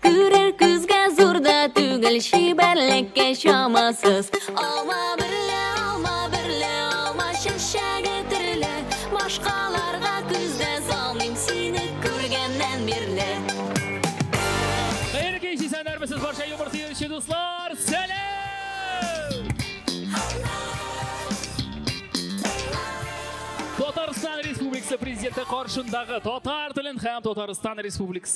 Күрер күзгә зур да түгел, чибәрлеккә чамасыз. Алма берлә, алма берлә, алма чәчәге төрле. Башкаларга күз дә салмыйм сине күргәннән бирле. Хәерле кич, исәннәрмесез барча юмор сөюче дуслар! Сәлам! Татарстан Республикасы Президенты каршындагы татар телен һәм Татарстан Республикасы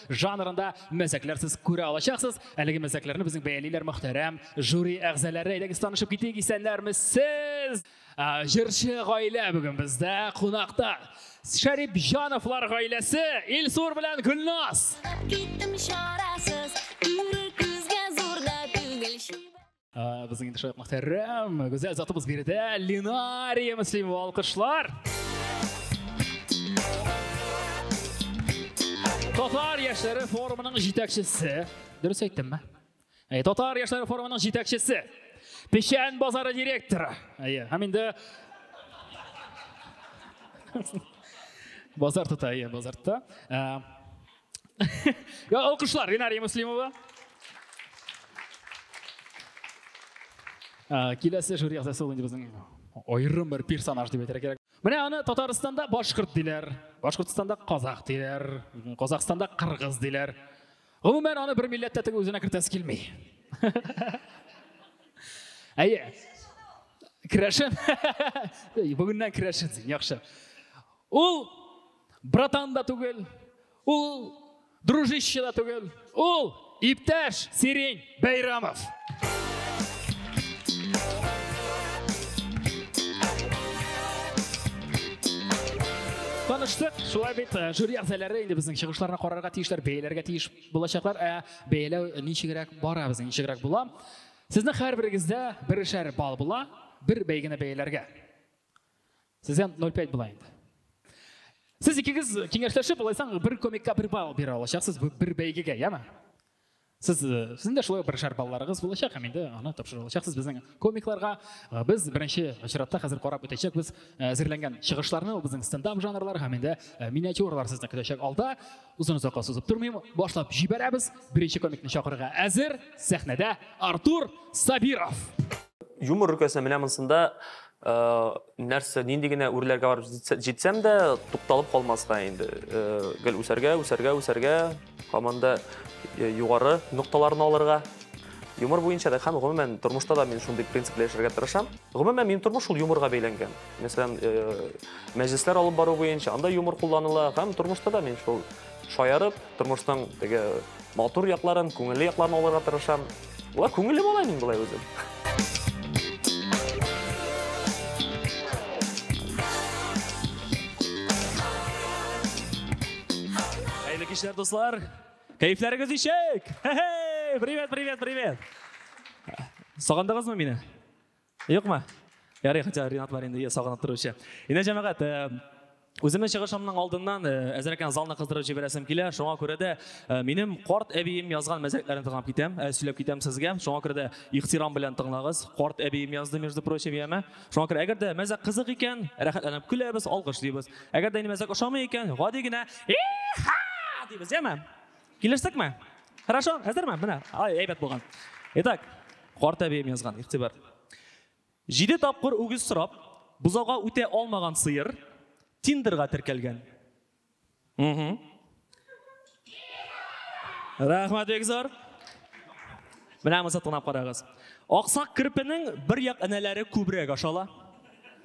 жанрында мәзәкләр сез күрә алачаксыз. Әлеге мәзәкләрне безнең бәялиләр мөхтәрәм жюри әгъзалары. Әйдәгез танышып китик, исәннәрме сез? Җырчы гаилә бүген бездә кунакта. Шәрип Җановлар гаиләсе Илсур белән Гөлназ. Киттем чарасыз, Ә, безнең инде шулай мөхтәрәм, гүзәл затыбыз биредә Линария Мөслимова алкышлар. Татар яшьләре форумының җитәкчесе. Дөрес әйттемме? Әй, Татар яшьләре форумының җитәкчесе. Печән базары директоры. Әйе, һәм инде базар тота, әйе, базар тота. Ә, Ya alkışlar Rinariye Muslimova. Киләсе жюри әгъзасы ул инде безнең аерым бер персонаж дип әйтергә кирәк. Менә аны Татарстанда башкорт диләр, Башкортстанда казах диләр, Казахстанда кыргыз диләр. Гомумән аны бер милләттә теге үзенә кертәсе килми. Әйе. Керәшен. Бүгеннән керәшен син, яхшы. Ул Братан да түгел, ул дружище да түгел, ул иптәш Сирень Бәйрамов. таныштык. Шулай бит э, жюри әгъзалары инде безнең чыгышларны карарга тиешләр, бәяләргә тиеш булачаклар. Ә бәяләү ничегрәк бара безнең, ничегрәк була? Сезнең һәрберегездә берешәр балл була, бер бәйгене бәяләргә. Сездән 0,5 була инде. Сез икегез киңәшләшеп, алайсаң бер комикка бер балл бирә алачаксыз бер бәйгегә, яме? Сез э, сезнең дә шулай бер шар балларыгыз булачак, һәм инде аны тапшыра алачаксыз безнең комикларга. Э, без беренче очратта хәзер карап үтәчәк без э, әзерләнгән чыгышларны, ул безнең стендап жанрлар һәм инде миниатюралар сезне көтәчәк алда. Узын озакка сузып тормыйм, башлап җибәрәбез. Беренче комикны чакырырга әзер, сәхнәдә Артур Сабиров. Юмор өлкәсе менә монсында нәрсә нинди генә үрләргә барып җитсәм дә тукталып калмаска инде гел үсәргә үсәргә үсәргә һаман да югары нокталарны алырга юмор буенча да һәм гомумән тормышта да мин шундый принципта яшәргә тырышам гомумән минем тормыш шул юморга бәйләнгән мәсәлән мәҗлесләр алып бару буенча анда юмор кулланыла һәм тормышта да мин шул Шаярып, тормышның теге матур якларын, күңелле якларын алырга тырышам. Ва, күңелле бала мин болай үзем. Хәерле кичләр, дуслар. Кәефләрегез ничек? Привет, привет, привет. Сагындыгызмы мине? Юкмы? Ярый, хотя Ринат бар инде, сагынып торучы. Инде җәмәгать, Үземнең чыгышымның алдыннан э, әзрәк кенә залны кыздырып җибәрәсем килә. Шуңа күрә дә э, минем карт әбием язган мәзәкләрен тыңлап китәм, э, сөйләп китәм сезгә. Шуңа күрә дә ихтирам белән тыңлагыз. Карт әбием язды, между прочим, яме. Шуңа күрә әгәр дә мәзәк кызык икән, рәхәтләнеп көләбез, алкышлыйбыз. Әгәр дә инде мәзәк ошамый икән, гади генә дибез, яме. Килештек ме? Хорошо, әзер ме? Менә, ай, әйбәт булган. Итак, карт әбием язган, игътибар. Җиде тапкыр үгез сорап, бозауга үтә алмаган сыер Тиндерга теркәлгән. Угу. Рәхмәт бик зур. Менә моны тыңлап карагыз. Аксак керпенең бер як энәләре күбрәк ашала.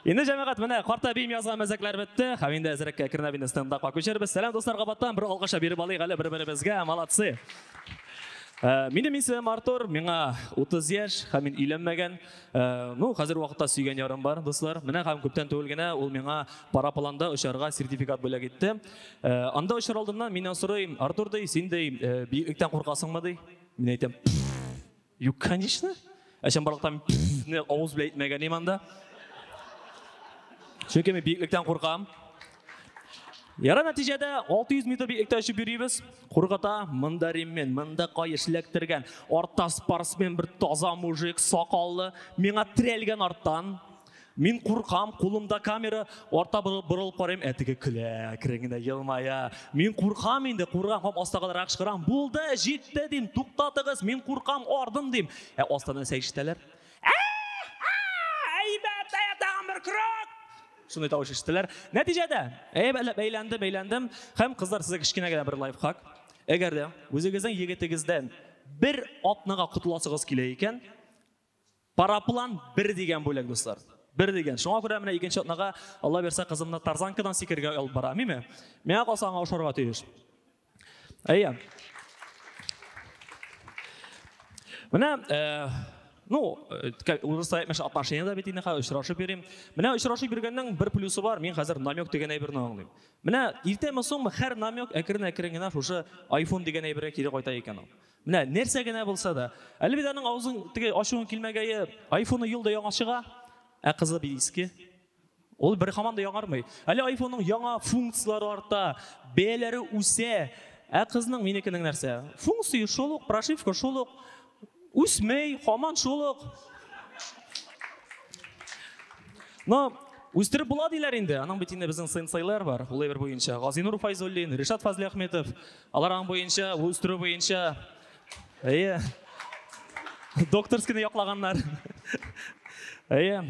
Инде җәмәгать менә карта бием язган мәзәкләр бетте. Һәм инде әзрәккә кернә бинде стендапка күчербез. Сәлам дуслар кабаттан бер алгыша биреп алыйк әле бер-беребезгә. Молодцы. Э, минем исемем Артур, миңа 30 яшь, һәм мин өйләнмәгән. Э, ну, хәзер вакытта сөйгән ярым бар, дуслар. Менә һәм күптән түгел генә ул миңа парапланда очарга сертификат бүләк итте. Э, анда очар алдыннан миннән сорый, Артур ди, син ди, биектән куркасыңмы ди? Мин әйтәм, Юк, конечно. Ә сен барлыктан не авыз белән әйтмәгән идем анда. Чөнки мин биеклектән куркам. Яра нәтиҗәдә 600 метр биеклектә очып йөрибез. Кургата монда реммен, монда каеш ләктергән, артта спортсмен бер таза мужик, сакаллы, миңа трәлгән арттан. Мин куркам, кулымда камера, арта борылып карыйм, ә теге көлә, әкрен генә елмая. Мин куркам инде, куркам һәм астагаларак чыгарам. Булды, җитте дим, туктатыгыз, мин куркам, ардым дим. Ә астан нәрсә ишетәләр? Әйбәт, әйбәт, тагын бер крок! Шундый тавыш ишетәләр. Нәтиҗәдә, әйбәтләп әйләндем, әйләндем. Һәм кызлар, сезгә кечкенә генә бер лайфхак. Әгәр дә үзегезнең егетегездән бер атнага котыласыгыз килә икән, Параплан бер дигән бүләк, дуслар. Бер дигән. Шуңа күрә менә икенче атнага, Алла бирсә, кызымны тарзанкадан сикерергә алып барам, әйме? Миңа калса, аңа ошарга тиеш. Әйе. Менә, э, ну, э, урысча әйтмешә отношения да бит инде хәзер очрашып йөрим. Менә очрашып йөргәннең бер плюсы бар, мин хәзер намек дигән әйберне аңлыйм. Менә иртәме соңмы һәр намек әкрен-әкрен генә шушы iPhone дигән әйбергә кире кайта икән ул. Менә нәрсә генә булса да. Әлвиданың авызын теге ачуын килмәгәе, айфоны елда яңа чыга, ә кызы бит иске. Ул бер хаман да яңармый. Әле айфонның яңа функцияләре арта, бәяләре үсә, ә кызның минекенең нәрсә? Функция шул ук, прошивка шул ук, үсмей, хаман шул ук. Но үстереп була диләр инде. Аның бит инде безнең сенсейлар бар, ул әйбер буенча. Газинур Файзуллин, Ришат Фазлиәхметов. Алар аң буенча, үстерү буенча, әйе, докторскийны яклаганнар. Әйе.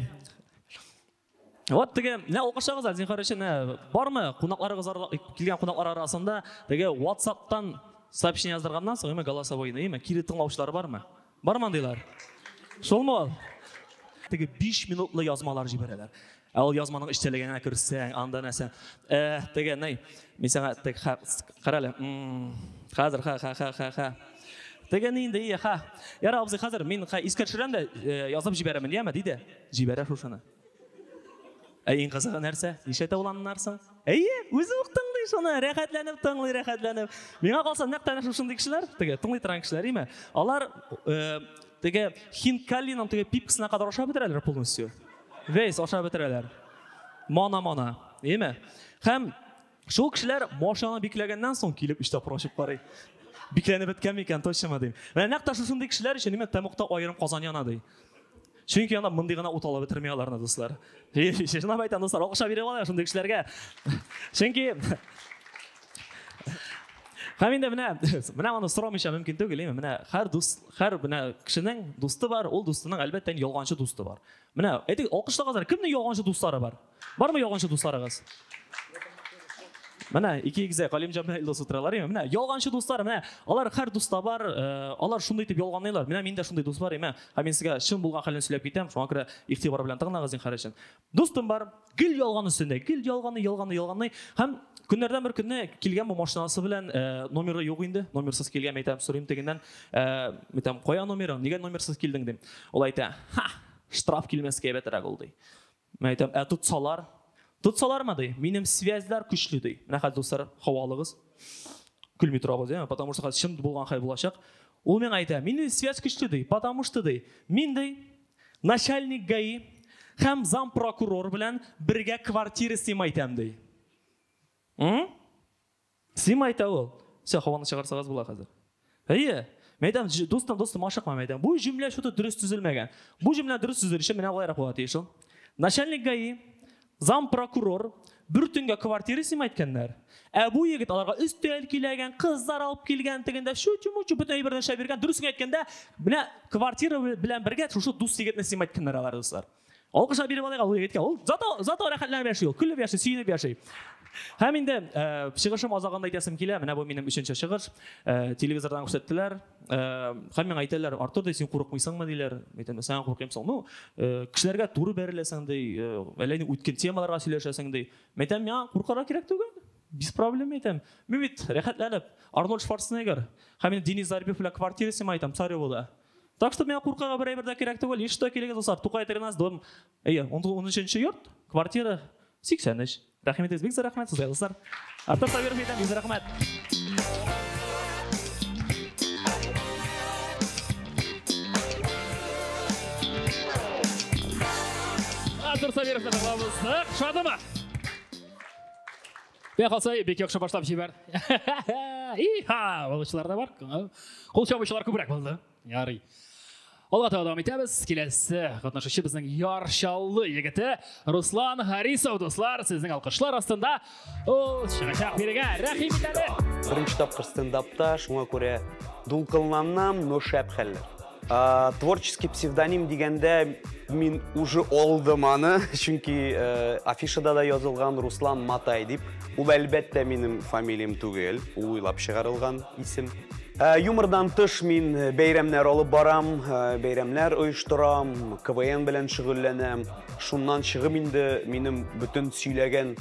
Вот теге, менә алкышлагыз, зинхар өчен, бармы? Кунакларыгыз килгән кунаклар арасында теге WhatsApp-тан сообщение яздырганнан соң, именно голосовой, именно кире тыңлаучылар бармы? Бар мандыйлар? Шулмы ул? Теге 5 минутлы язмалар җибәрәләр. Ә ул язманың эчтәлегенә керсәң, анда нәрсә? Э, теге ней, мин саңа тег карале. Хәзер ха ха ха ха ха. Теге нинди ия ха. Яра абзый, хәзер мин искә төшерәм дә э, язып җибәрәмен, яме, диде. Җибәрә шушыны. Ә иң кызыгы нәрсә? Ничәтә ул аннар соң? Әйе, үзе үк тыңлый шуны, рәхәтләнеп тыңлый, рәхәтләнеп. Миңа калса, нәкъ тәнә шушындый кешеләр, теге тыңлый торган кешеләр, име? Алар э, теге хинкаллиның теге пипкасына кадәр ашап бетерәләр полностью. Весь ашап бетерәләр. Мана-мана, име? Һәм Шул кешеләр машинаны бикләгәннән соң килеп өч тапкыр ачып карый. Бикләнеп беткәнме икән, точнымы дим. Менә нәкъ тә шушындый кешеләр өчен димәк тәмугта аерым казан яна ди. Чөнки анда мондый гына ут алып бетерми аларны, дуслар. Чынлап әйтәм, дуслар, акча биреп алалар шундый кешеләргә. Чөнки Һәм инде менә менә моны сорамыйча мөмкин түгел, яме. Менә һәр дус, һәр менә кешенең дусты бар, ул дустының әлбәттә ялганчы дусты бар. Менә әйтик, алкышлагызлар, кемнең ялганчы дуслары бар? Бармы ялганчы дусларыгыз? Менә ике егзә Галимҗан белән Илдус утыралар име? Менә ялганчы дуслар, менә алар һәр дуста бар, э, алар шундый итеп ялганлыйлар. Менә миндә шундый дус бар име? Һәм мин сезгә чын булган хәлен сөйләп китәм, шуңа күрә игътибар белән тыңлагыз зинһар өчен. Дустым бар, гел ялган өстендә, гел ялганы, ялганы, ялганы һәм Көннәрдән бер көнне килгән бу машинасы белән э, номеры юк инде, номерсыз килгән, әйтәм, сорыйм тегеннән, э, әйтәм, кая номерың, нигә номерсыз килдең дим. Ул әйтә, ха, штраф килмәскә әйбәтрәк ул ди. Мин әйтәм, ә тотсалар? Тотсалармы, ди, минем связьләр көчле, ди. Менә хәзер, дуслар, хава алыгыз. Көлми торабыз, яме, потому что хәзер чын булган хәл булачак. Ул миңа әйтә, минем связь көчле, ди, потому что, ди, мин, ди, начальник ГАИ һәм зам прокурор белән бергә квартира снимайтам, ди. М? Син әйтә ул. Все, һаваны чыгарсагыз була хәзер. Әйе. Мәйдам, дустым, дустым, ашыкма, мәйдам. Бу җөмлә шуты дөрес төзелмәгән. Бу җөмлә дөрес төзелер өчен менә болайрак була тиеш ул. Начальник ГАИ, зам прокурор, бер төнгә квартира сима иткәннәр. Ә бу егет аларга өстәл киләгән, кызлар алып килгән, тегендә шү-чү-мү-чү бөтен әйберне шәбергән. Дөресен әйткәндә, менә квартира белән бергә шушы дус егетне сима иткәннәр алар, дуслар. Алкышлар биреп алыйк ул егеткә. Ул зато зато рәхәтләнеп яши ул, көлеп яши, сөенеп яши. Һәм инде э, чыгышым азагында әйтәсем килә, менә бу минем өченче чыгыш. Э, телевизордан күрсәттеләр. Э, һәм миңа әйтәләр, Артур, ди, син курыкмыйсыңмы, диләр. Әйтәм, сән куркыйм соң. Ну, э, кешеләргә туры бәреләсең, ди, э, әллә ни үткен темаларга сөйләшәсең, ди. Әйтәм, миңа куркарга кирәк түгел. Без проблем әйтәм. Мин бит рәхәтләнеп, Арнольд Шварценеггер. Һәм мин Денис Зарбев белән квартира снимаем, там, Царевода. Так что миңа куркырга бер әйбер дә кирәк түгел. Еш та килегез, дуслар. Тукай 13, дом. Әйе, 13-нче йорт, квартира 83. Рәхмәт бик зур рәхмәт сезгә, дуслар. Артур Сабиров әйтәм, бик рәхмәт. Артур Сабиров та табамыз. Шадыма! Бәк алса, бик яхшы башлап җибәр. Иха, балычылар да бар. Кул чабучылар күбрәк булды. Ярый. Алга таба дәвам итәбез. Киләсе катнашучы безнең Яр Чаллы егете Руслан Харисов, дуслар, сезнең алкышлар астында ул чыгачак бирегә. Рәхим итәле. Беренче тапкыр стендапта, шуңа күрә дулкынланам, но шәп хәлләр. Ә, творческий псевдоним дигәндә мин уже алдым аны, чөнки ә, афишада да язылган Руслан Матай дип. Ул әлбәттә минем фамилиям түгел, ул уйлап чыгарылган исем. Ә, юмордан тыш мин бәйрәмнәр алып барам, ә, бәйрәмнәр оештырам, КВН белән шөгыльләнәм. Шуннан чыгып инде минем бөтен сөйләгән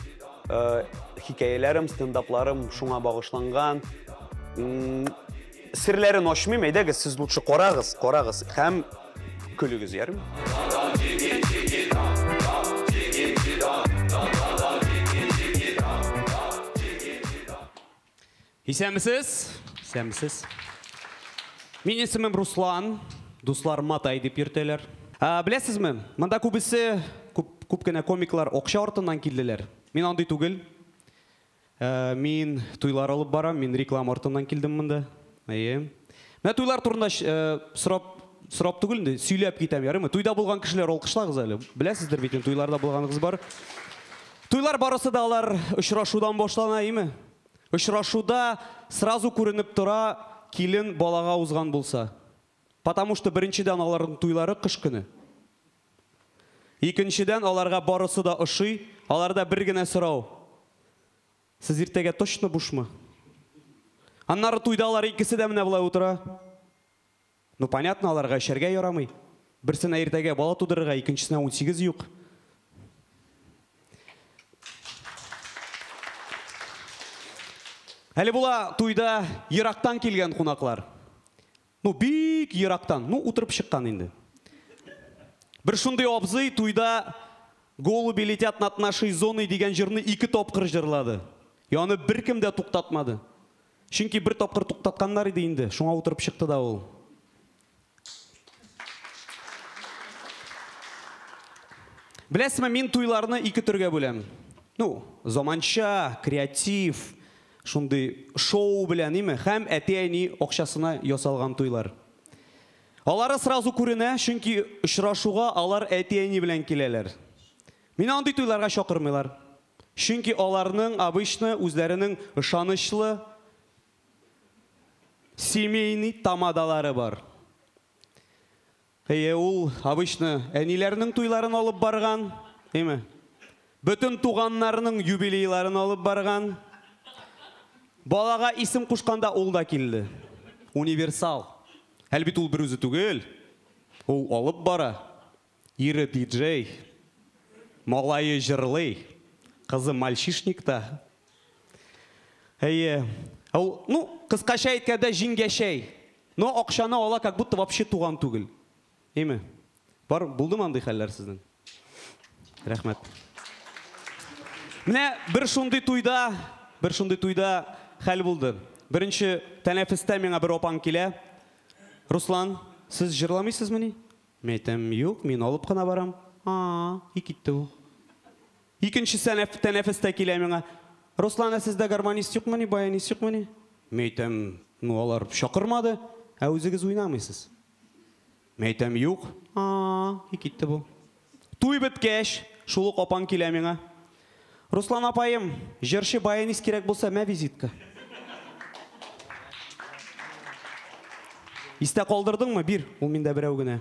ә, хикәяләрем, стендапларым шуңа багышланган. Серләрен ачмыйм, әйдәгез, сез лучше карагыз, карагыз һәм көлегез, ярым? Исәнмесез? Исәнмесез. Мин исемем Руслан, дуслар Матай дип йөртәләр. Ә, беләсезме, монда күбесе, күп, күп кенә комиклар акча артыннан килделәр. Мин андый түгел. Мин туйлар алып барам, мин реклама артыннан килдем монда. Әйе. Менә туйлар турында сорап сорап түгел инде, сөйләп китәм, ярыймы? Туйда булган кешеләр алкышлагыз әле. Беләсездер бит, туйларда булганыгыз бар. Туйлар барысы да алар очрашудан башлана, әйеме? Очрашуда сразу күренеп тора, килен балага узган булса. Потому что беренчедән аларның туйлары кыш көне. Икенчедән, аларга барысы да ошый. Аларда бер генә сорау, Сез иртәгә точно бушмы? Аннары туйда алар икесе дә менә болай утыра. Ну, понятно, аларга эчәргә ярамый. Берсенә иртәгә бала тудырырга, икенчесенә унсигез юк. Әле була туйда ерактан килгән кунаклар. Ну бик ерактан, ну утырып чыккан инде. Бер шундый абзый туйда Голуби летят над нашей зоной дигән җырны ике тапкыр җырлады. И аны беркем дә туктатмады. Чөнки бер тапкыр туктатканнар иде инде, шуңа утырып чыкты да ул. Беләсезме, мин туйларны ике төргә бүләм. Ну, заманча, креатив, Шундый шоу белән, име? Һәм әти-әни акчасына ясалган туйлар. Алары сразу күренә, чөнки очрашуга алар әти-әни белән киләләр. Мине андый туйларга чакырмыйлар. Чөнки аларның обычно үзләренең ышанычлы семейный тамадалары бар. Әйе, ул обычно әниләрнең туйларын алып барган, әйме? Бөтен туганнарның юбилейларын алып барган. Балага исем кушканда ул да килде. Универсал. Әле бит ул бер үзе түгел. Ул алып бара. Ире диджей. Малае җырлый. Кызы мальчишникта. Әйе. Ә ул, ну, кыскача әйткәндә, җиңгәчәй. Но акчаны ала, как будто вообще туган түгел. Име? Бар, булдымы андый хәлләр сезнең? Рәхмәт. Менә бер шундый туйда, бер шундый туйда хәл булды. Беренче тәнәфестә миңа бер апаң килә. Руслан, сез җырламыйсызмыни? Мин әйтәм, юк, мин алып кына барам. А, и китте ул. Икенче сәнәф, тәнәфес тә килә миңа. Руслан, ә сездә гармонист юкмыни, баянист юкмыни? Мин әйтәм, ну, алар чакырмады, ә үзегез уйнамыйсыз. Мин әйтәм, юк. А-а-а, и китте бу. Туй беткәч, шул ук апаң килә миңа. Руслан апаем, җырчы, баянист кирәк булса, мә визитка. Истә калдырдыңмы, бир, ул миндә берәү генә.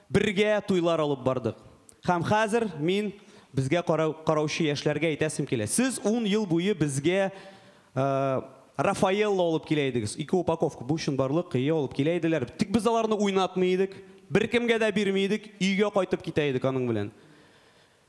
Бергә туйлар алып бардык. Һәм хәзер мин безгә караучы яшьләргә әйтәсем килә, сез ун ел буе безгә Рафаэлло алып килә идегез, ике упаковка, бу чынбарлык, әйе, алып килә иделәр, тик без аларны уйнатмый идек, беркемгә дә бирми идек, өйгә кайтып китә идек аның белән.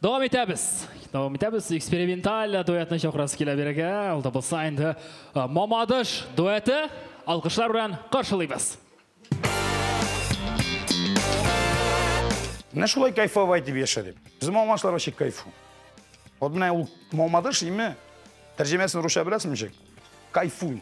Дәвам итәбез. Дәвам итәбез. Эксперименталь дуэтны чакырасы килә бирегә. Ул да булса инде Мамадыш дуэты. Алкышлар белән каршылыйбыз. Менә шулай кайфовай дип яшә дип. Безнең мамашлар вообще кайфу. Вот менә ул Мамадыш име? Тәрҗемәсен русча беләсең ничек? Кайфуй.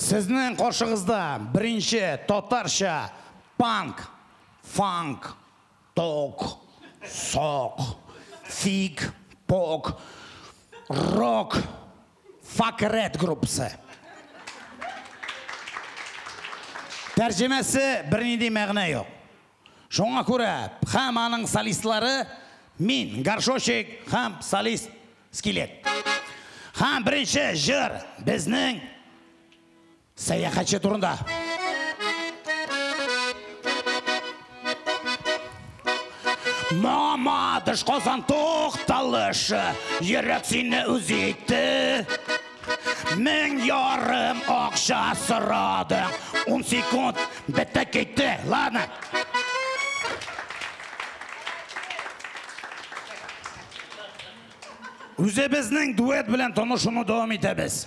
Сезнең каршыгызда беренче татарча панк, фанк, ток, сок, фиг, пок, рок Факерет группасы. Тәрҗемәсе бернинди мәгънә юк. Шуңа күрә һәм аның солистлары мин, горшочек һәм солист Скелет. Һәм беренче җыр безнең. Сәяхәтче турында. Мамадыш Казан тукталышы, йөрәк сине үз итте. Мең ярым акча сорады, ун секунд бетте китте. Ладно. Үзебезнең дуэт белән танышуны дәвам итәбез.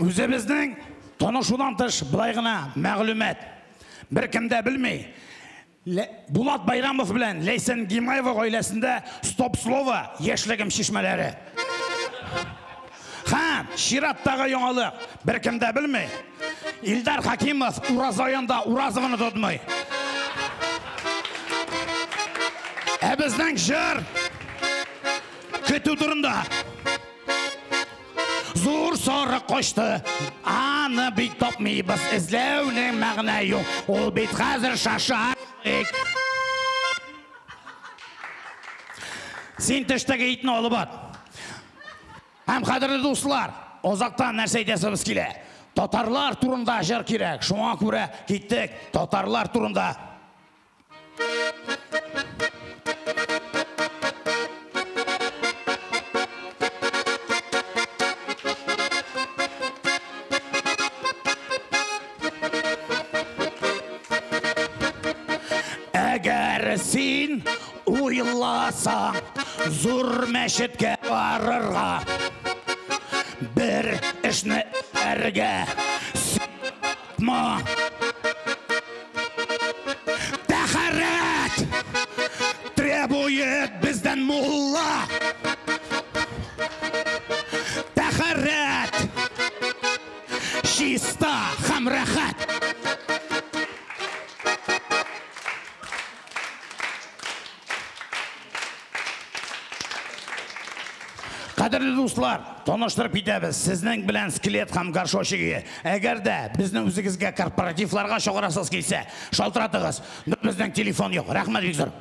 Үзебезнең танышудан тыш былай гына мәгълүмат. Беркем дә белми. Булат Байрамов белән Ләйсән Гимаева гаиләсендә стоп-слово яшьлегем чишмәләре. Һә, чираттагы яңалык, беркем дә белми. Илдар Хакимов Ураза аенда Уразованы тотмый. Ә безнең җыр көтү турында. Зур сары кочты, аны бит тапмыйбыз, эзләүнең мәгънә юк. Ул бит хәзер шашарлык. Син төштәге итне алып бар. Һәм, кадерле дуслар, озактан нәрсә әйтәсебез килә? Татарлар турында җыр кирәк. Шуңа күрә киттек татарлар турында. Әгәр син Уйласаң, зур мәчеткә барырга, бер эшне әргә сыйма. Тәхәрәт требует бездән мулла. Тәхәрәт чиста һәм рәхәт. Кадерле дуслар, таныштырып китәбез. Сезнең белән скелет һәм горшочиге. Әгәр дә безне үзегезгә корпоративларга чыгарасыз килсә, шалтыратыгыз. Безнең телефон юк. Рәхмәт бик зур.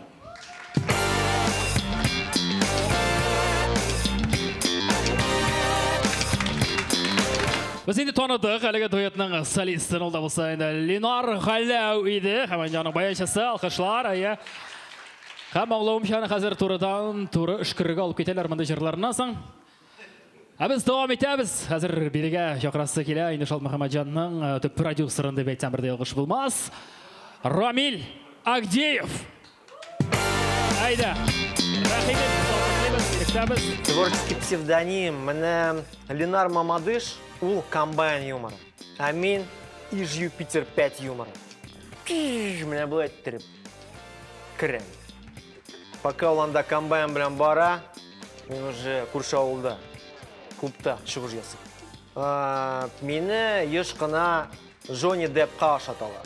Без инде таныдык әлеге дуэтның солистын ул да булса инде Ленар Галәү иде. Һәм инде аның баянчысы алкышлар. Әйе. Һәм аңлавымча хәзер турыдан туры өшкерергә алып китәләр мондый җырларыннан соң. Ә без дәвам итәбез. Хәзер бирегә чакрасы килә. Инде Шалт Мөхәммәтҗанның э, төп продюсерын дип әйтсәм бер дә ялгыш булмас. Рамил Агдеев. Әйдә. Рәхимет, сатыклыбыз, кешәбез. Творческий псевдоним менә Ленар Мамадыш ул комбайн юморы. Ә мин Иж Юпитер 5 юморы. Пиш, менә бу әйттереп. Керәм. Пока ул анда комбайн белән бара, мин уже күрше авылда клубта чыгыш ясыйм. Ә, Мине еш кына Джонни Деппка ашаталар.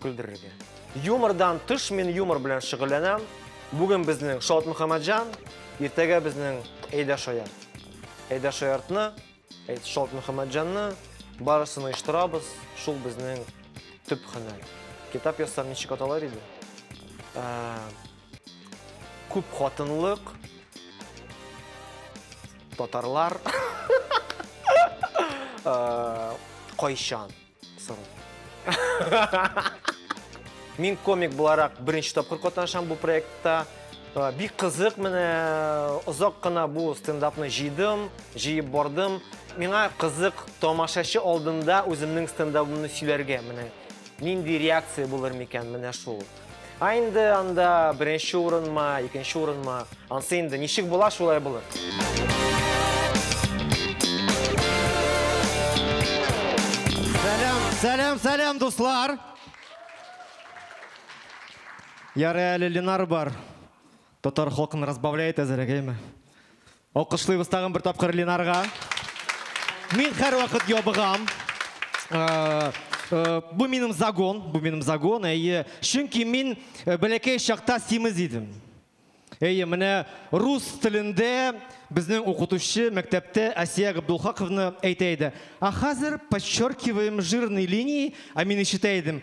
Көлдерергә. Юмордан тыш мин юмор белән шөгыльләнәм. Бүген безнең Шаут Мөхәммәтҗан, иртәгә безнең Әйдә Шаярт. Әйдә Шаяртны, Шаут Мөхәммәтҗанны барысын оештырабыз. Шул безнең төп хөнәр. Китап язсам ничек аталар иде? Ә, күп хатынлык, татарлар, Ә, кайчан. Мин комик буларак беренче тапкыр катнашам бу проектта. Бик кызык менә озак кына бу стендапны җыйдым, җыеп бардым. Миңа кызык тамашачы алдында үземнең стендабымны сөйләргә менә. Нинди реакция булыр микән менә шул. Ә инде анда беренче урынмы, икенче урынмы, ансы инде ничек була, шулай булыр. Сәлам, сәлам, сәлам, дуслар! Ярый әле Ленар бар. Татар халкын разбавляет әзерәгәйме? Алкышлыйбыз тагын бер тапкыр Ленарга. Мин һәрвакыт ябыгам. Бу минем загон, бу минем загон, әйе. Чөнки мин бәләкәй чакта симез идем. Әйе, менә рус телендә безнең укытучы мәктәптә Асия Габдулхаковна әйтә иде. А хәзер подчеркиваем жирные линии, а мин ишетә идем.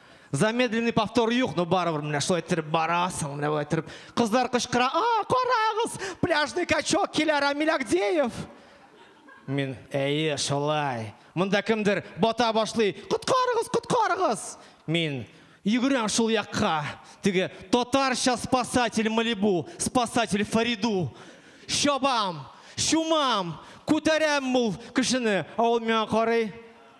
Замедленный повтор юк, но барыбер менә шулай иттереп барасың, менә болай иттереп. Кызлар кычкыра, а, карагыз, пляжный качок килә, Рамиль Агдеев. Мин, әйе, шулай. Монда кемдер бата башлый, коткарыгыз, коткарыгыз. Мин, йөгерәм шул якка. Теге татарча спасатель Малибу, спасатель Фариду. Чабам, чумам, күтәрәм ул кешене. Ә ул миңа карый,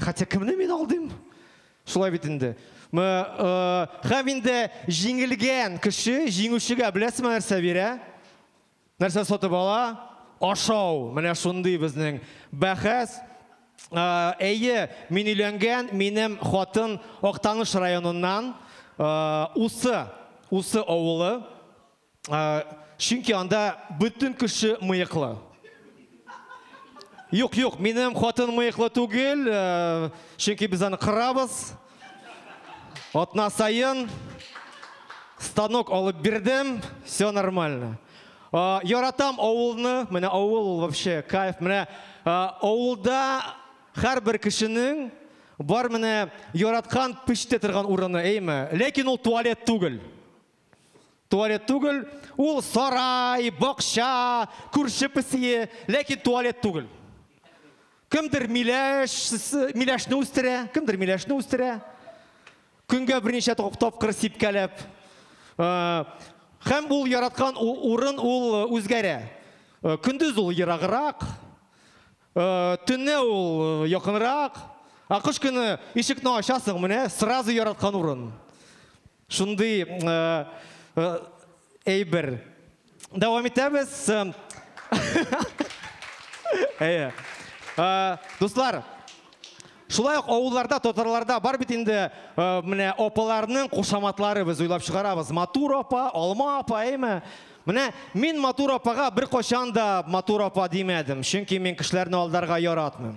Хәтя кемне мин алдыйм? Шулай бит инде. Хәм инде җиңелгән кеше җиңүчегә беләсезме нәрсә бирә? Нәрсә сатып ала? Ашау. Менә шундый безнең бәхәс. Әйе, мин өйләнгән, минем хатын Актаныш районыннан, Усы, Усы авылы. Чөнки анда бөтен кеше мыеклы. Юк, юк, минем хатын мыеклы түгел, чөнки без аны кырабыз. Атна саен станок алып бирдем, все нормально. Яратам авылны, менә авыл ул вообще кайф. Менә авылда һәрбер кешенең бар менә яраткан пеште торган урыны, әйеме? Ләкин ул туалет түгел. Туалет түгел, ул сарай, бакча, күрше песие, ләкин туалет түгел. Кемдер миләш, миләшне үстерә, кемдер миләшне үстерә. Көнгә берничә тапкыр сипкәләп. Хәм ул яраткан урын ул үзгәрә. Көндез ул ерагырак, төнне ул якынрак, ә кыш көне ишекне ачасың, менә сразу яраткан урын. Шундый әйбер. Дәвам итәбез. Әйе. Дуслар, шулай ук авылларда, татарларда бар бит инде менә апаларның кушаматлары без уйлап чыгарабыз. Матур апа, алма апа, әйме? Менә мин матур апага беркайчан да матур апа димәдем, чөнки мин кешеләрне алдарга яратмыйм.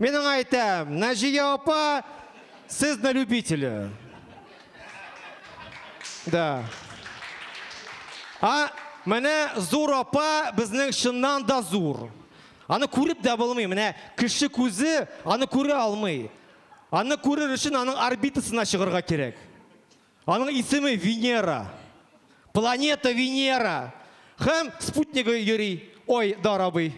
Мин аңа әйтәм, Наҗия апа, сез на любителе. Да. А, менә зур апа безнең чыннан да зур. Аны күреп дә булмый, менә кеше күзе аны күрә алмый. Аны күрер өчен аның орбитасына чыгарга кирәк. Аның исеме Венера. Планета Венера. Һәм спутнигы йөри Ой дарабый.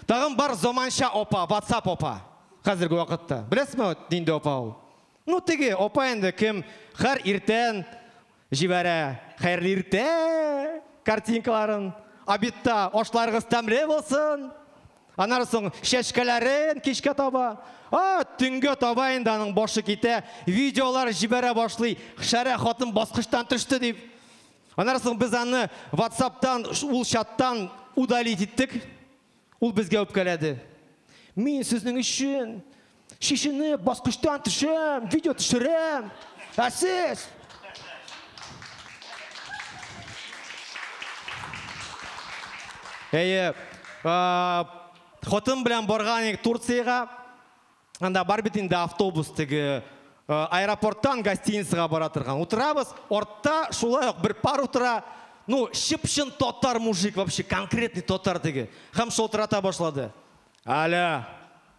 Тагын бар заманча апа, ватсап апа. Хәзерге вакытта. Беләсме нинди апа ул? Ну теге апа инде кем хәр иртән җибәрә хәерле иртә картинкаларын. Обедта ашларыгыз тәмле булсын. Аннан соң чәчкәләрен кичкә таба. А, төнгә таба инде аның башы китә, видеолар җибәрә башлый. Шәрә хатын баскычтан төште дип. Аннан соң без аны WhatsApp-тан, ул чаттан удалить иттек. Ул безгә үпкәләде. Мин сезнең өчен Чишенеп, баскычтан төшәм, видео төшерәм. Ә сез? Әйе. Хатын белән барган идек Турциягә. Анда бар бит инде автобус теге аэропорттан гостиницага бара торган. Утырабыз, артта шулай ук бер пар утыра. Ну, чып-чын татар мужик вообще, конкретный татар теге. Һәм шалтырата башлады. Алло,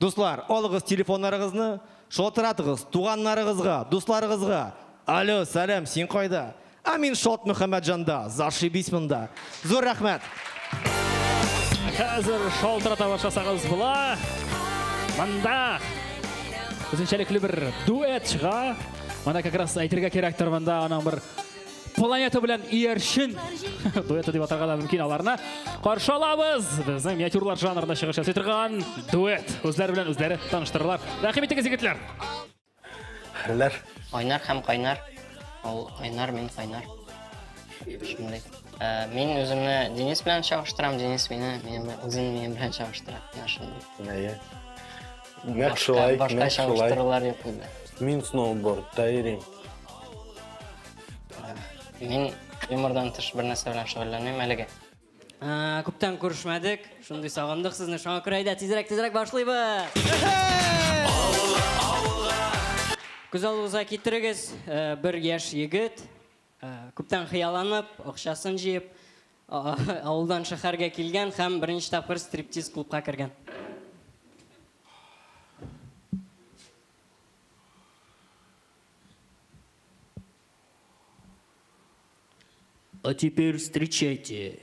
Дуслар, алыгыз телефоннарыгызны, шалтыратыгыз туганнарыгызга, дусларыгызга, Алё, сәлам, син кайда? Ә мин Шат Мөхәммәтҗанда, зашибись монда. Зур рәхмәт! Хәзер шалтырата башласагыз була. Монда үзенчәлекле бер дуэт чыга. Моны как раз әйтергә кирәктер монда аның бер планета белән иярчен дуэты дип атарга да мөмкин аларны каршы алабыз безнең миниатюрлар жанрында чыгыш ясый торган дуэт үзләре белән үзләре таныштыралар рәхим итегез егетләр хәлләр айнар һәм кайнар ул айнар мин кайнар шундый э, мин үземне денис белән чагыштырам денис мине үзен минем белән чагыштыра менә шундый Нәкъ шулай, Башка, башка нәкъ шулай. чагыштырулар юк инде. Мин сноубордта йөрим. Мин юмордан тыш бер нәрсә белән шөгыльләнмим әлегә. Ә, Күптән күрешмәдек, шундый сагындык сезне. Шуңа күрә әйдә, тизрәк, тизрәк башлыйбыз. Күз алдыгызга китерегез, ә, бер яшь егет Күптән хыялланып, акчасын җыеп, авылдан шәһәргә килгән һәм беренче тапкыр стриптиз клубка кергән. А теперь встречайте,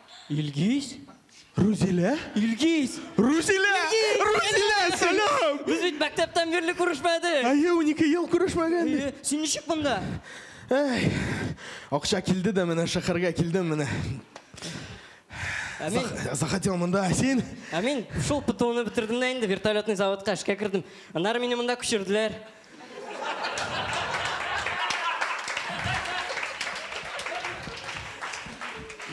Илгиз? Рузилә? Илгиз! Рузилә! Рузилә, сәлам! Без бит мәктәптән бирле күрешмәдек. Әйе, унике ел күрешмәгән. Әйе, син ничек монда? Әй, акча килде дә менә шәһәргә килдем менә. Ә мин, Зах- Захотел монда, ә син? ә мин шул ПТУны бетердем дә инде вертолетный заводка эшкә кердем. Аннары мине монда күчерделәр.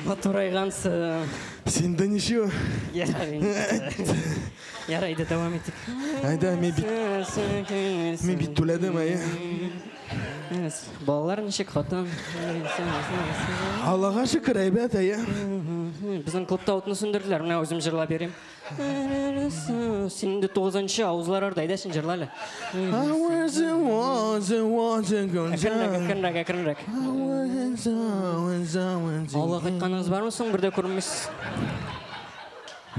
Матурайгансың. Син дә ничего? Ярый. Ярый, әйдә дәвам итик. Әйдә, мин бит мин бит түләдем, әйе. Балалар ничек, хатын? Аллага шөкер, әйбәт, әйе. Безнең клубта утны сүндерделәр, менә үзем җырлап йөрим. Син инде тугызынчы авызлар арда, әйдә син җырла әле. Әкренрәк, әкренрәк, әкренрәк. Алла кайтканыгыз бармы соң, бер дә күрмисез.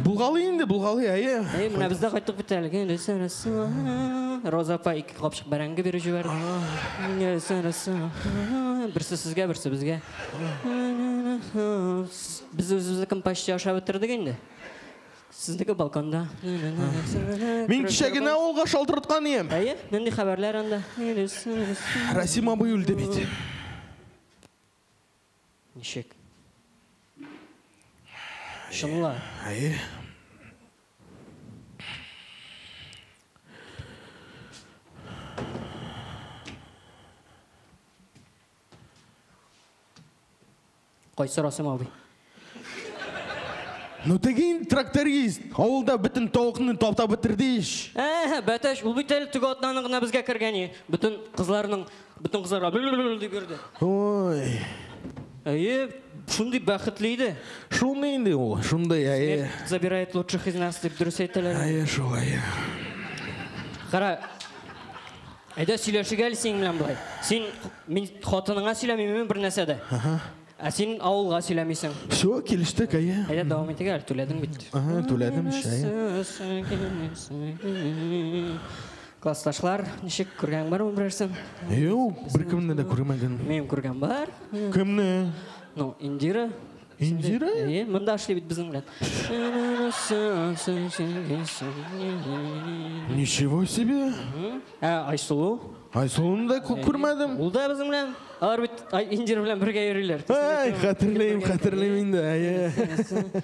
Булгалы инде, булгалы, әйе. Әйе, менә без дә кайттык бит әле. Роза апа ике капчык бәрәңге биреп җибәрде. Берсе сезгә, берсе безгә. Без үзебезнекен почти ашап бетердек инде. Сезнеке балконда. Мин кичә генә авылга шалтырткан ием. Әйе, нинди хәбәрләр анда? Расим абый үлде бит. Ничек? Чынла. Әйе. Кайсы Расим абый? Ну тегин тракторист, авылда бөтен тавыкны таптап бетерде ич. Әһә, бәтәш, ул бит әле теге атнаның гына безгә кергәне. Бөтен кызларның, бөтен кызларга бл-бл-бл дип йөрде. Ой. Әйе, шундый бәхетле иде. Шундый инде ул, шундый, әйе. Забирает лучших из нас дип дөрес әйтәләр. Әйе, шулай. Кара, Әйдә сөйләшик әле синең белән болай. Син мин хатыныңа сөйләмиме бер нәрсә дә? Ә син авылга сөйләмисең. Все, килештек, әйе. Әйдә дәвам итик әле, түләдең бит. Ага, түләдем, шәй. Классташлар, ничек күргән бармы берәрсен? Юк, беркемне дә күрмәгән. Мин күргән бар. Кемне? Ну, Индира. Инҗир әй? Әйе, монда эшли бит безнең белән. Ничего себе! Ә Айсылу? Айсылуны да күп күрмәдем. Ул да безнең белән. Алар бит Ай- Инҗир белән бергә йөриләр. Әй, хәтерлим, хәтерлим инде. Әйе.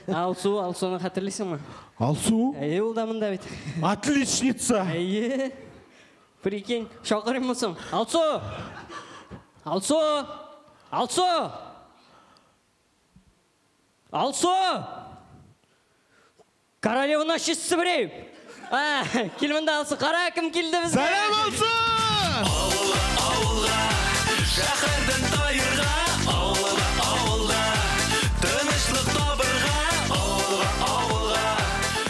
Ә Алсу, Алсуны хәтерлисеңме? Алсу, Әйе, ул да монда бит. отличница! Әйе. Прикинь, чакырыйммы соң? Алсу! Алсу! Алсу! Алсу! Королеваны шешсе берәй! Кил монда, Алсу, кара, кем килде безгә! Сәлам, Алсу! Авылга, авылга, шәһәрдән таерга, авылга, авылга, тынычлык табырга, авылга, авылга.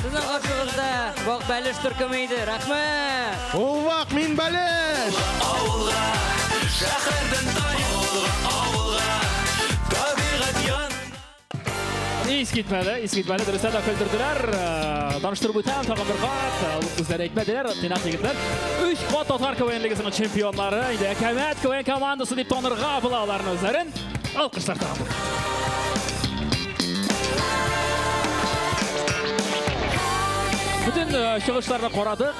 Сезнең каршыгызда Вак Бәлеш төркеме иде. Рәхмәт! Ул вак мин бәлеш! Авылга, авылга, шәһәрдән тай. Авылга, авылга, табигать янына. Ис китмәде, ис китмәде. Дөрестә дә көлдерделәр. Таныштырып үтәм, тагын бер кат. Үзләре әйтмәделәр, тыйнак егетләр. Өч кат татар КВН лигасының чемпионнары. Инде Әкәмәт КВН командасы дип танырга була аларны үзләрен. Алкышлар тагын. Бөтен э, чыгышларны карадык.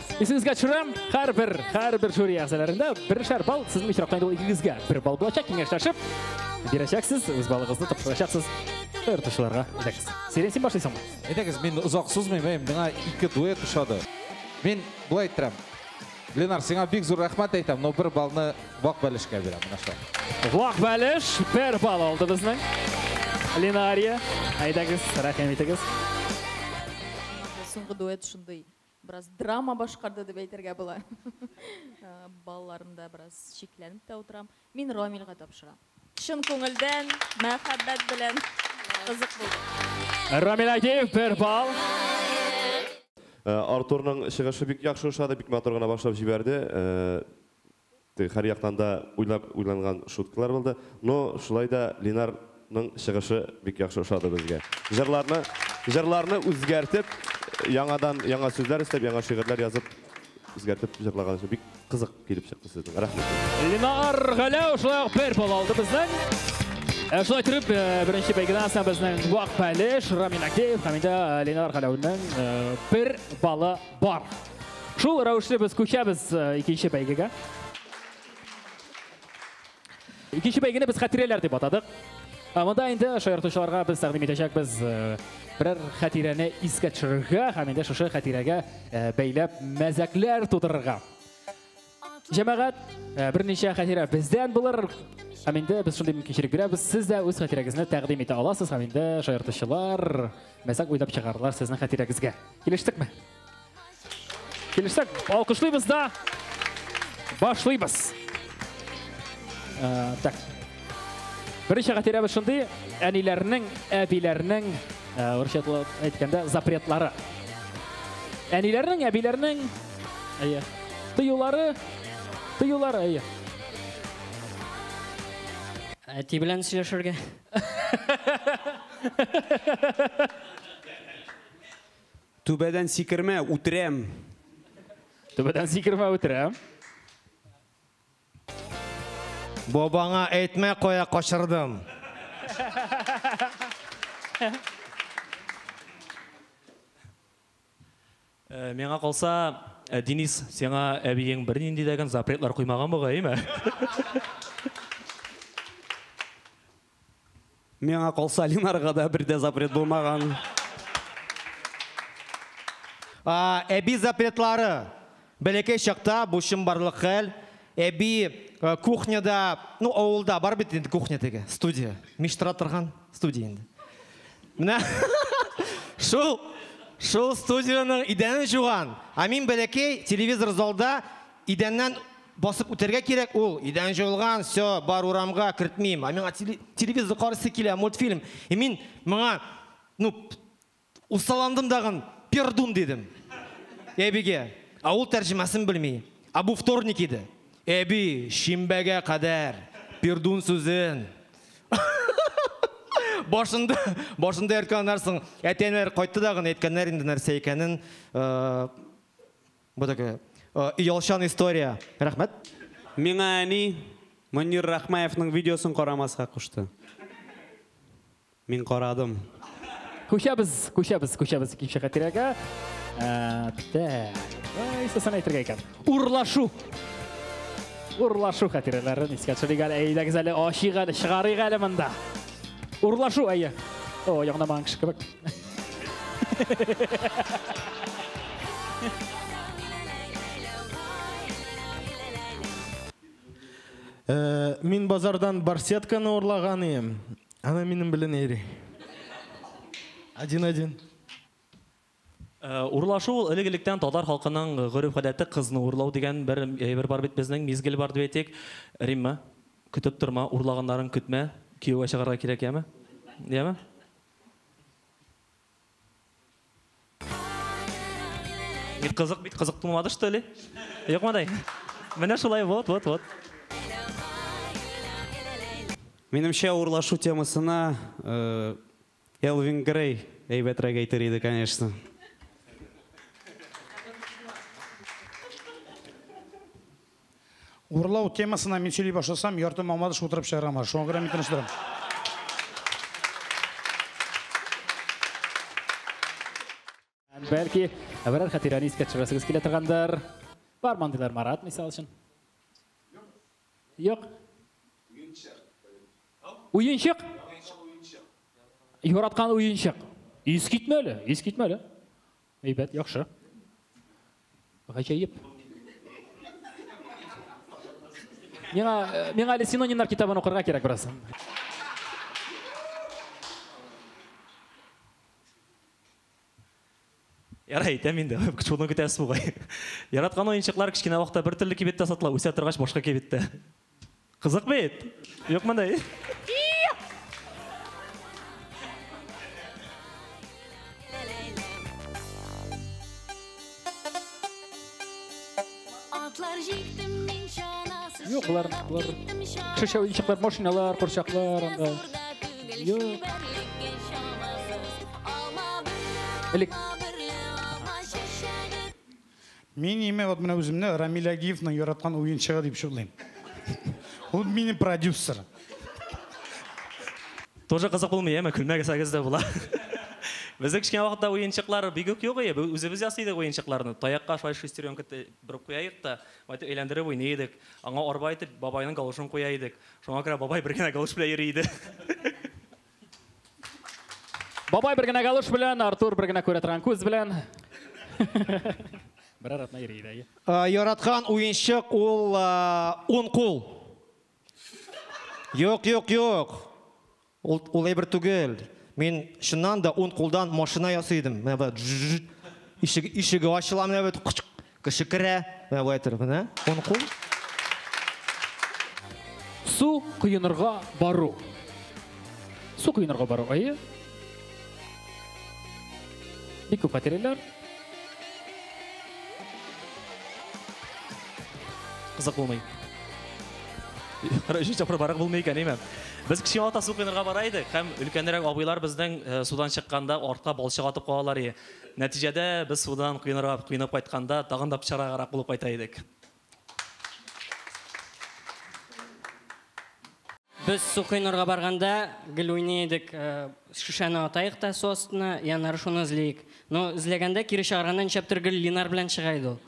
Исегезгә төшерәм, һәрбер, һәрбер жюри әгъзаларында бершәр балл сезнең очракта инде ул икегезгә бер балл булачак, киңәшләшеп бирәчәксез, үз балыгызны тапшырачаксыз ыртышуларга. Әйдәгез. Сирен син башлыйсыңмы? Әйдәгез, мин озак сузмыйм, миңа ике дуэт ошады. Мин болай әйтәм. Ленар, сиңа бик зур рәхмәт әйтәм, но бер балны вак бәлешкә бирәм, менә шул. Вак бәлеш бер балл алды безнең. Ленария, әйдәгез, рәхим итегез. Соңгы дуэт шундый. Бераз драма башкарды дип әйтергә була. Балларымда бераз шикләнеп тә утырам. Мин Рамилгә тапшырам. Чын күңелдән, мәхәббәт белән кызык булды. Рамил Агеев бер балл. Артурның чыгышы бик яхшы ошады, бик матур гына башлап җибәрде. Теге һәр яктан да уйлап уйланган шуткалар булды. Но шулай да Линар ның чыгышы бик яхшы ошады безгә. Җырларны җырларны үзгәртеп, яңадан яңа сүзләр өстәп, яңа шигырьләр язып, үзгәртеп җырлаган өчен бик кызык килеп чыкты сезнең. Рәхмәт. Линар Галәү шулай ук бер балл алды безнең. Ә шулай итеп, э, беренче бәйгедән соң безнең Вак Пәлеш, Рамин Актеев һәм инде Линар Галәүнең э, бер балы Бар. Шул рәвешле без күчәбез э, икенче бәйгегә. Икенче бәйгене без хәтирәләр дип атадык. Ә монда инде шаяртучыларга без тәкъдим итәчәкбез э, берәр хәтирәне искә төшерергә һәм инде шушы хәтирәгә э, бәйләп мәзәкләр тудырырга. Җәмәгать, э, берничә хәтирә бездән булыр. Һәм инде без шундый мөмкинчелек бирәбез. Сез дә үз хәтирәгезне тәкъдим итә аласыз һәм инде шаяртучылар мәзәк уйлап чыгарлар сезнең хәтирәгезгә. Килештекме? Килештек. Алкышлыйбыз да башлыйбыз. Э, так. Беренче хәтирәбез шундый, әниләрнең, әбиләрнең, э, урысча әйткәндә, запретлары. Әниләрнең, әбиләрнең Әйе. Тыюлары, тыюлары, әйе. Әти белән сөйләшергә. Түбәдән сикермә, үтерәм. Түбәдән сикермә, үтерәм. Бабаңа әйтмә кая качырдым. Миңа калса, Денис, сиңа әбиең бернинди дә генә запретлар куймаган бугай-ме? Миңа калса, Ленарга да бер дә запрет булмаган. Әби запретлары, Бәләкәй чакта бу чынбарлык хәл, әби кухняда, ну авылда бар бит инде кухня теге, студия, мич тора торган студия инде. Менә шул, шул студиянең идәнен җуган. Ә мин бәләкәй, телевизор залда, идәннән басып үтәргә кирәк, ул, идән җуылган, всё, бар урамга кертмим. Ә миңа телевизор карыйсы килә, мультфильм. И мин моңа, ну, Усаландым дагын, пердун дидем. Әбигә, ә ул тәрҗемәсен белми. Ә бу вторник иде. Әби, шимбәгә кадәр пердун сүзен башында, башында йөрткән анарсың. Әтәнәр кайтты дагын, әйткәннәр инде нәрсә икәнен. Бу такая оялчан история. Рәхмәт. Миңа әни Мөнир Рахмаевның видеосын карамаска кушты. Мин карадым. Күчәбез, күчәбез, күчәбез икенче хатирәгә. Ә, Бетә. Исәсен әйтергә икән. Урлашу. Урлашу хатирәләрен искә төшерик әле. Әйдәгез әле, ачыйк әле, чыгарыйк әле монда. Урлашу, әйе. О, ягынамаган кеше кебек. Мин базардан барсетканы урлаган идем. Она минем белән йөри. Один один. Э, урлашу ул элек электән татар халкының гореф гадәте кызны урлау дигән бер әйбер бар бит безнең мизгел бар дип әйтик римма көтеп торма урлаганнарын көтмә кияүгә чыгарга кирәк яме яме Бик кызык бит, кызык булмады что ли? Юкмыдай? Менә шулай, вот, вот, вот. Минемчә урлашу темасына э, Элвин Грей әйбәтрәк әйтер иде, конечно. Урлау темасына мин сөйли башласам, ярты мамадыш утырып чыгарган бар. Шуңа күрә мин тыныштырам. Бәлки, әбәрәр хәтирәне искә төшерәсегез килә торгандыр. Бар мандыйлар Марат, мисал өчен. Юк. Уенчык. Уенчык? Яраткан уенчык. Ис китмәле, ис китмәле. Әйбәт, яхшы. Гаҗәеп. Миңа, миңа әле синонимнар китабын укырга кирәк бераз. Ярай, әйтәм инде, шуны көтәсез бугай. Яраткан уенчыклар кечкенә вакытта бер төрле кибеттә сатыла, үсә торгач башка кибеттә. Кызык бит! Юкмыни? Атлар җиктем мин чанасыз. Юк, болар, болар. Шешә уенчыклар, машиналар, курчаклар анда. Юк. Элек Мин име вот менә үземне Рамиль Агиевның яраткан уенчыгы дип чудлыйм. Ул минем продюсер. Тоже кызык булмый, яме, көлмәгесәгез дә була. Безнең кечкенә вакытта уенчыклар бик үк юк иде. Үзебез ясый идек уенчыкларны. Таякка шулай шестеренка борып куя идек тә, байтак әйләндереп уйный идек. Аңа арба итеп бабайның галошын куя идек. Шуңа күрә бабай бер генә галош белән йөри иде. Бабай бер генә галош белән, Артур бер генә күрә торган күз белән. Бер аратна йөри дә. Э, яраткан уенчык ул э, ун кул. Юк, юк, юк. Ул, ул әйбер түгел. Мин чыннан да ун кулдан машина ясый идем. Менә бит ишеге, ишеге ачыла менә бит. Кеше керә, менә болай торып, менә, уң кул. Су коенырга бару. Су коенырга бару, әйе. Бик күп материаллар. Кызык булмый. Өченче тапкыр барак булмый икән, әйме? Без кечкенә вакытта су коенырга бара идек һәм өлкәнрәк абыйлар безнең э, судан чыкканда артка балчык атып калалар иде. Нәтиҗәдә, без судан коенырга коенып кайтканда, тагын да пычрагарак булып кайта идек. Без су коенырга барганда, гел уйный идек, шешәне атаек та су астына, и аннары шуны эзлиек. Но эзләгәндә, кире чыгарганда, нишләптер, гел Линар белән чыга иде ул.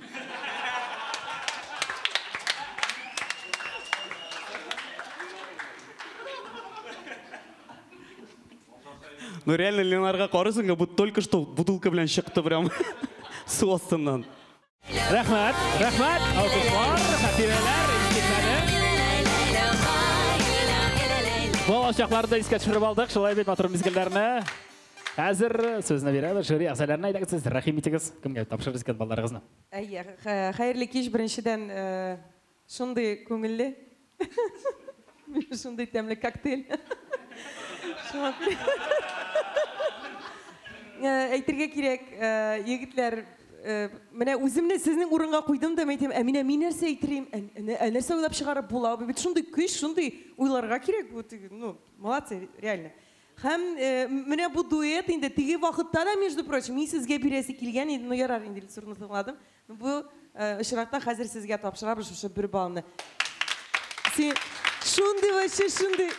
Ну реально Ленарга карысын как будто только что бутылка белән чыкты прям су астыннан. Рәхмәт, рәхмәт, алкышлар, хатирәләр, Бала чакларда искә төшереп алдык, шулай бит матур мизгелләрне. Хәзер сүзне бирәбез жюри әгъзаларына әйдәгез сез рәхим итегез, кемгә тапшырырсыз икән балаларыгызны? Әйе, хәерле кич беренчедән Шундый күңелле. Шундый тәмле коктейль. Э, әйтергә кирәк, э, егетләр, э, менә үземне сезнең урынга куйдым да, әйтәм, ә менә мин нәрсә әйтерим, ә нәрсә уйлап чыгарып була? Бу бит шундый көч, шундый уйларга кирәк бу, ну, молодцы, реально. Һәм менә бу дуэт инде теге вакытта да, между прочим, мин сезгә бирәсе килгән иде, но ярар инде, Илсурны тыңладым. Бу очракта хәзер сезгә тапшырабыз шушы бер балны. Син шундый вообще шундый.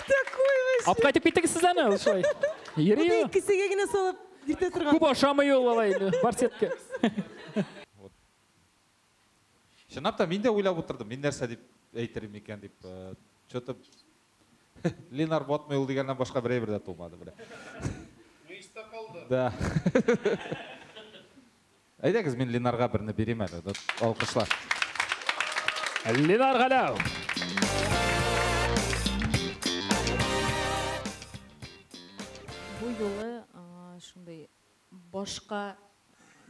Такой вообще. Апка итеп киттегез сезләр ме? Шулай. Йөри. Бу икесегә генә салып иртә торган. Күп ашамый ул алай инде. Барсетка. Вот. Чынлап та мин дә уйлап утырдым, мин нәрсә дип әйтер микән дип. Что-то Ленар Ботмый ул дигәннән башка бер әйбер дә тумады, менә. Мыйста калды. Да. Әйдәгез, мин Ленарга берне бирим әле. Алкышлар. Ленар Галәү. Бу юлы шундый башка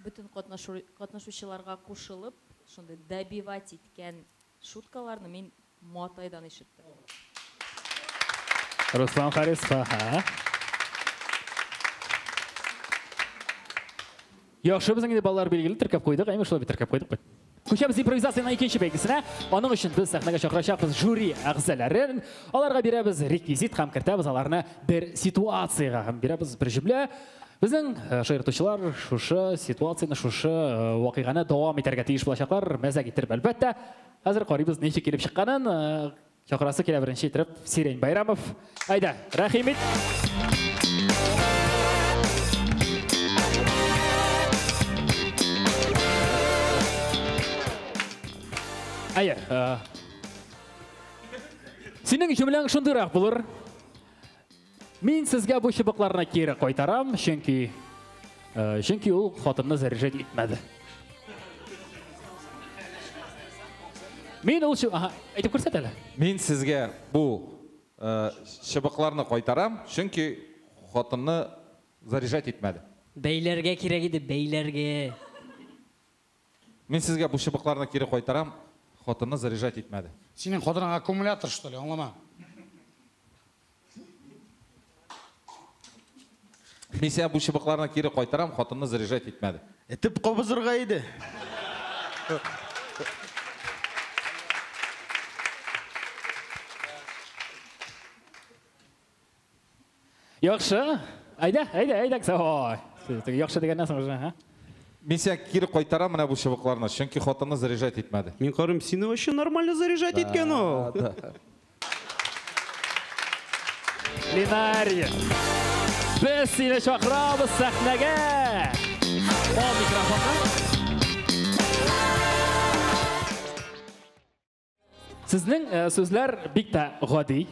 бөтен катнашучыларга кушылып, шундый добивать иткән шуткаларны мин Матайдан ишеттем. Руслан Харисха, ха? Яхшы, безнең инде балалар билгеле теркәп куйдык, әйме шулай бит теркәп куйдык бит. Күчәбез импровизациянең икенче бәйгесенә. Аның өчен без сәхнәгә чакырачакбыз жюри әгъзаларын. Аларга бирәбез реквизит һәм кертәбез аларны бер ситуациягә һәм бирәбез бер җөмлә. Безнең э, шаяртучылар шушы ситуацияне, шушы э, вакыйганы дәвам итәргә тиеш булачаклар, мәзәк иттереп, әлбәттә. Хәзер карыйбыз ничек килеп чыкканын. Чакырасы килә беренче итеп Сирень Байрамов. Айда, рәхим ит. Әйе. Синең җөмләң шундыйрак булыр. Мин сезгә бу чыбыкларны кире кайтарам, чөнки э, чөнки ул хатынны заряжать итмәде. Мин ул чы... Ага, әйтеп күрсәт әле. Мин сезгә бу э, чыбыкларны кайтарам, чөнки хатынны заряжать итмәде. Бәйләргә кирәк иде, бәйләргә. Мин сезгә бу чыбыкларны кире кайтарам, хатынны заряжать итмәде. Синең хатының аккумулятор что ли, аңламам. Мин сиңа бу чыбыкларны кире кайтарам, хатынны заряжать итмәде. Этеп кабызырга иде. Яхшы. Әйдә, әйдә, әйдә, кесә. Ой. Теге яхшы дигәннән соң уже, ха? Мин сиңа кире кайтарам менә бу чыбыкларны, чөнки хатыны заряжать итмәде. Мин карыйм, сине вообще нормально заряжать иткән ул. Линария. Без сине чакырабыз сәхнәгә. Ал микрофонны. Сезнең э, сүзләр бик тә гади.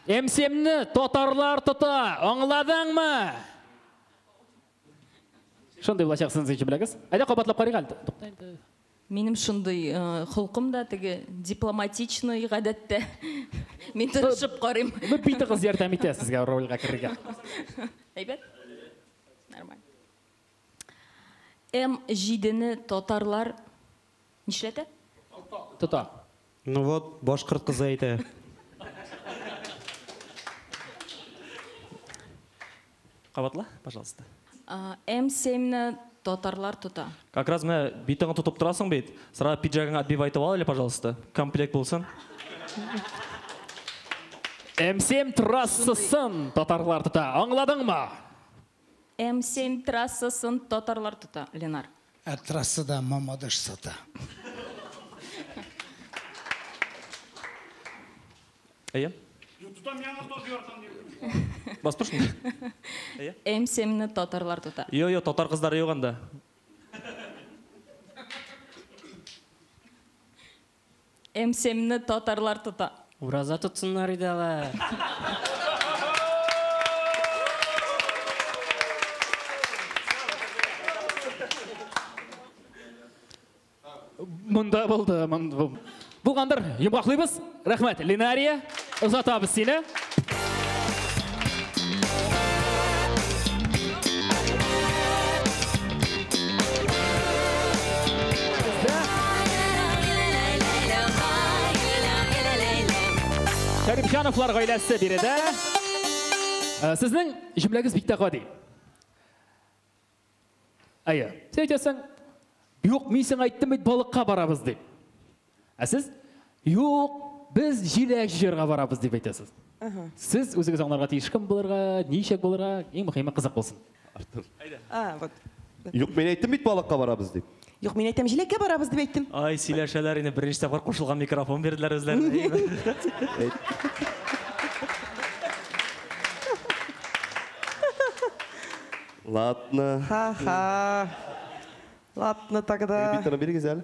МСМны татарлар тота, аңладыңмы? Шундый булачак сез ичи беләгез. Әйдә кабатлап карыйк әле. Тукта инде. Минем шундый э, холкым да теге дипломатичный гадәттә. Мин тырышып карыйм. Бу бит кыз ярдәм итә сезгә рольгә керергә. Әйбәт. Нормально. М7-не татарлар Нишләтә? Тота. Ну вот, башкорт кызы әйтә. Кабатла, пожалуйста. М7 ны татарлар тота. Как раз менә битыңны тотып торасың бит. Сара пиджагыңа отбив айтып ал әле, пожалуйста. Комплект булсын. М7 трассасын татарлар тота. Аңладыңмы? М-7 трассасын татарлар тота, Ленар. Ә трассада Мамадыш сата. Әйе. Юк, тотам, яңа таз яртам дип. Басып тор шунда. Әйе. М-7-не татарлар тота. Йо, йо, татар кыздары юк анда. Мсмны татарлар тота. Ураза тотсыннар иде алар. Монда булды. Булгандыр, йомгаклыйбыз. Рәхмәт, Линария. Озатабыз сине. Шәрипҗановлар гаиләсе биредә. Э, сезнең җөмләгез бик тә гади. Әйе. Син әйтәсең, юк, мин сиңа әйттем бит, балыкка барабыз дип. Ә сез, юк, без җиләк җыярга барабыз дип әйтәсез. Сез үзегез аңларга тиеш кем булырга, ничек булырга, иң мөһиме кызык булсын. Артур. Әйдә. А, вот. Юк, мин әйттем бит балыкка барабыз дип. Юк, мин әйтәм, җиләккә барабыз дип әйттем. Ай, сөйләшәләр инде, беренче тапкыр кушылган микрофон бирделәр үзләренә. Ладно. Ха-ха. Ладно тогда. Репетиторны бирегез әле.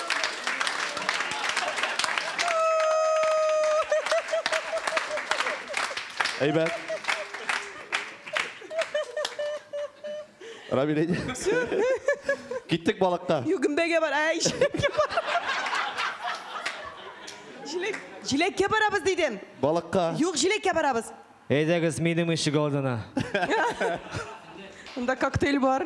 Әйбәт. Рамиль әйдә. Киттек балыкка. Юк, гөмбәгә бар. Әй, җилеккә бар. Җилек, җилеккә барабыз дидем. Балыкка. Юк, җилеккә барабыз. Әйдәгез минем ишек алдына. Монда коктейль бар.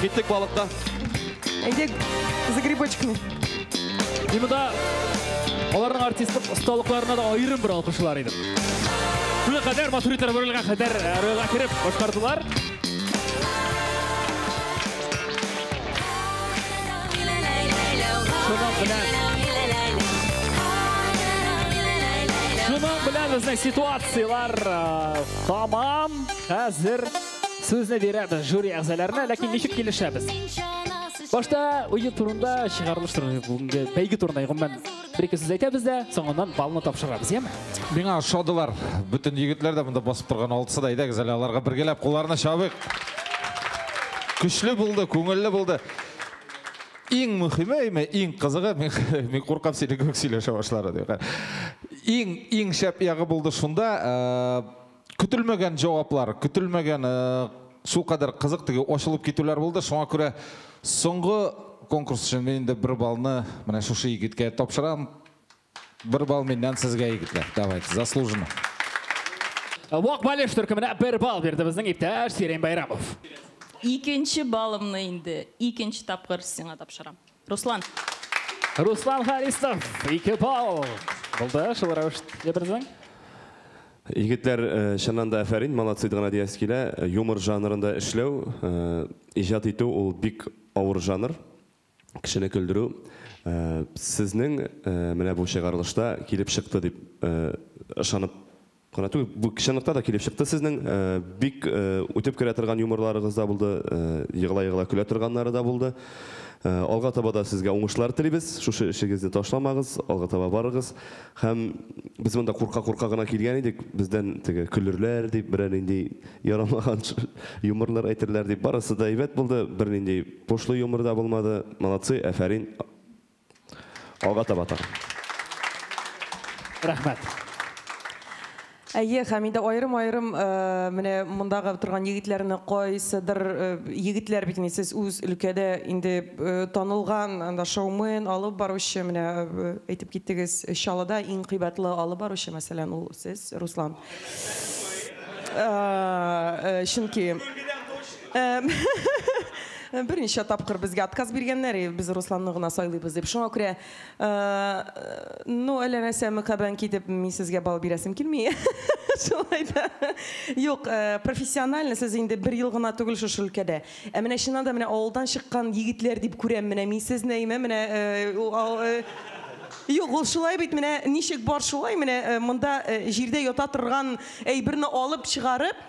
Киттек балыкка. Әйдек, за грибочками. И мында аларның артистлык осталыкларына да аерым бер алкышлар идем. Шуңа кадәр Масуритер Рөлгә кадәр э, рольга кереп башкардылар. Шуның белән Шуның белән безнең ситуацияләр э, тамам хәзер Сүзне бирәбез жюри әгъзаларына, ләкин ничек килешәбез? Башта уйы турында чыгарылыш турында бүгенге бәйге турында гомумән бер ике сүз әйтәбез дә, соңыннан балны тапшырабыз, яме? Миңа ошадылар. Бөтен егетләр дә монда басып торган алтысы да әйдәгез әле аларга бергәләп кулларны чабыйк. Көчле булды, күңелле булды. Иң мөхиме, әйме, иң кызыгы, мин, мин куркам сине күк сөйләшә башлары. Иң, иң шәп ягы булды шунда, э, Көтелмәгән җаваплар, көтелмәгән су кадәр кызык теге ачылып китүләр булды. Шуңа күрә соңгы конкурс өчен мин инде бер балны менә шушы егеткә тапшырам. Бер бал миннән сезгә, егетләр. Давайте, заслуженно. Вак Балеш төркеменә бер бал бирде безнең иптәш Сирень Байрамов. Икенче балымны инде икенче тапкыр сиңа тапшырам. Руслан. Руслан Харисов, ике балл. Булды, шул рәвештә берзең. Егетләр, э, чыннан да әфәрин, молодцы гына дияс килә. Э, юмор жанрында эшләү, э, иҗат итү ул бик авыр жанр. Кешене көлдерү. Сезнең менә бу чыгарылышта килеп чыкты дип ышанып Гына түгел, бу чынлыкта да килеп чыкты сезнең. Бик үтеп керә торган юморларыгыз да булды, егыла-егыла көлә торганнары да булды. Алга таба да сезгә уңышлар телибез. Шушы эшегезне ташламагыз, алга таба барыгыз. Һәм без монда курка-курка гына килгән идек, бездән теге көлерләр дип, берәр нинди ярамаган юморлар әйтерләр дип. Барысы да әйбәт булды, бернинди пошлый юмор да булмады. Молодцы, әфәрин! Алга таба тагын. Рәхмәт. Әйе, һәм инде аерым-аерым менә мондагы торган егетләрне кайсыдыр егетләр бит инде сез үз өлкәдә инде танылган анда шоумен, алып баручы, менә әйтеп киттегез, Чаллыда иң кыйбатлы алып баручы, мәсәлән, ул сез, Руслан. Чөнки. Берничә тапкыр безгә отказ биргәннәр, и без Русланны гына сайлыйбыз дип. Шуңа күрә, ну, әллә нәрсә мөкабән китеп, мин сезгә балл бирәсем килми. Шулай да. Юк, профессионально сез инде бер ел гына түгел шушы өлкәдә. Ә менә чыннан да менә авылдан чыккан егетләр дип күрәм менә мин сезне, әйме, менә Юк, ул шулай бит, менә ничек бар шулай, менә монда җирдә ята торган әйберне алып чыгарып,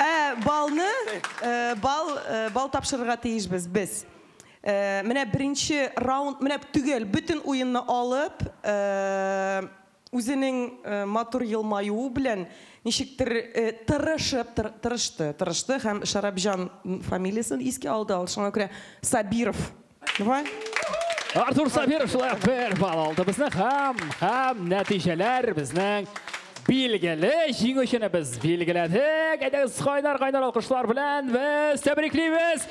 Ә балны, э, бал, э, бал тапшырырга тиешбез без. Э, Менә беренче раунд, менә төгәл бөтен уенны алып, э, Үзенең матур елмаюы белән ничектер тырышып, тырышты, тырышты һәм Шәрабҗан фамилиясен искә алды, шуңа күрә Сабиров. Артур Сабиров шулай ук бер балл алды безне һәм, һәм нәтиҗәләр безнең билгеле, җиңүчене без билгеләдек. Әйдәгез, кайнар-кайнар алкышлар белән без тәбриклибез!